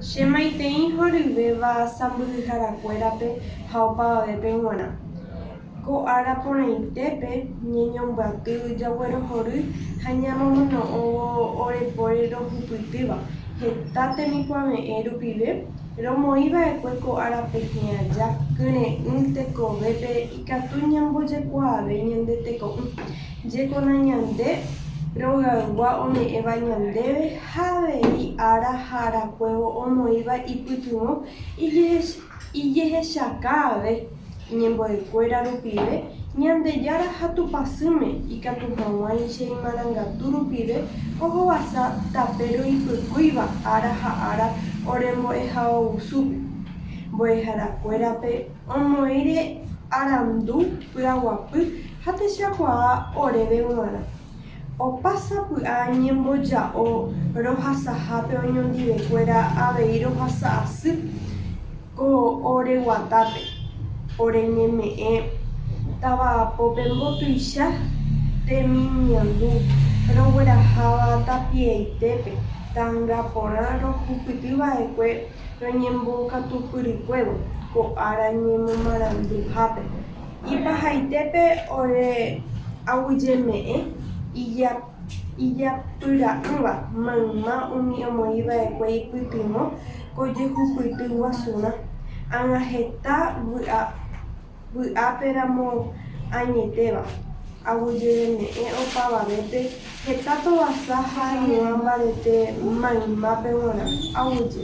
Che maitei horyvéva sãmbyhyharakuérape ha opavavépe g̃uarã. Ko ára porãitépe ñañombyaty jaguerohory ha ñamomono'õvo orepóre rohupytýva heta temikuave'ẽ rupive, romoĩva'ekue ko ára pehẽ aja kyre'ỹ tekovépe ikatu ñambojekuaave ñande teko'ỹ, jeko nañande rogaygua ome'ẽva ñandéve ha avei ára ha arakuévo omoĩva ipytyvõ ijehechaka ave iñembo'ekuéra rupive, Ñandejára ha Tupãsýme ikatu hag̃uáicha che imarangatu rupive ohovasa tape roipykúiva ára ha ára ore mbo'ehaovusúpe, mbo'eharakuérape omoĩre arandu py'aguapy ha techakuaa oréve g̃uarã. Opa sapy'a ñemboja'o rohasahápe oñondivekuéra avei rohasa asy ko ore guatápe, ore ñeme'ẽ tavapópe mbotuicha temimiandu rogueraháva tapiaitépe tanga porã rohupytyva'ekue roñembokatupyrykuévo ko ára ñemomaranduhápe. Ipahaitépe ore aguyjeme'ẽ ijapyra'ỹva mayma umi omoĩva'ekue ipytyvõ ko jehupyty guasurã, ág̃a heta vy'ápe ramo añetéva, aguyjeme'ẽ opavavépe heta tovasa ha hag̃ua mbarete maymápe g̃uarã aguyje.